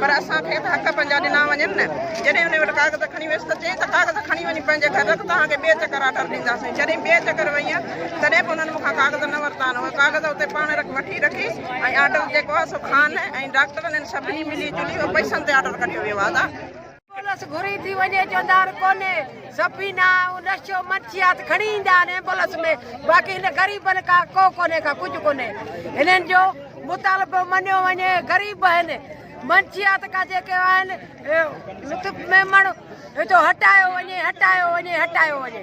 پر اسان کي ته حق پنهنجا ڏنا وڃن نه. جڏهن انهي وٽ ڪاغذ کڻي ويس ته چيائين ته ڪاغذ کڻي وڃي پنهنجي گهر رک توهان کي ٻئي چڪر آرڊر ڏينداسين. جڏهن ٻئي چڪر ويئن تڏهن به انهن مون کان ڪاغذ نه ورتا آهن. اهي ڪاغذ اتي پاڻ رک وٺي رکي ۽ آرڊر جيڪو آهي سو خان ۽ ڊاڪٽرن هن سڀني ملي جلي اهو پئسن تي آرڊر ڪڍيو ويو آهي. ايمبولنس گهري ٿي وڃي جو دار ڪونهي سفينه ۽ نشو منشيات کڻي ايندا آهن ايمبولنس ۾ باقي هن غريبن کا ڪو ڪونهي کا ڪجهه ڪونهي هنن جو مطالبو مڃيو وڃي غريب آهن منشيات کا جيڪي آهن لطف ميمڻ جو هٽايو وڃي هٽايو وڃي هٽايو وڃي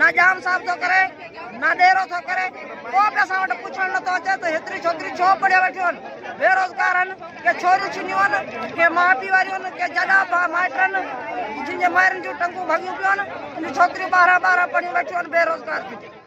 نه ڄام صاحب ٿو ڪري نه ڏيرو ٿو ڪري ڪو به اسان وٽ پڇڻ نه ٿو اچي ته هيتري ڇوڪري ڇو پڙهيو ويٺيون آهن بي روزگار آهن ڪي ڇوريون ڇنيون آهن ڪي ماء پيء واريون آهن ڪي جڏا مائٽ آهن جن جي مائرن جون ٽنگون ڀڳيون پيون آهن ان ڇوڪريون ٻارهن ٻارهن پڙهيون ويٺيون آهن بي روزگار ٿيون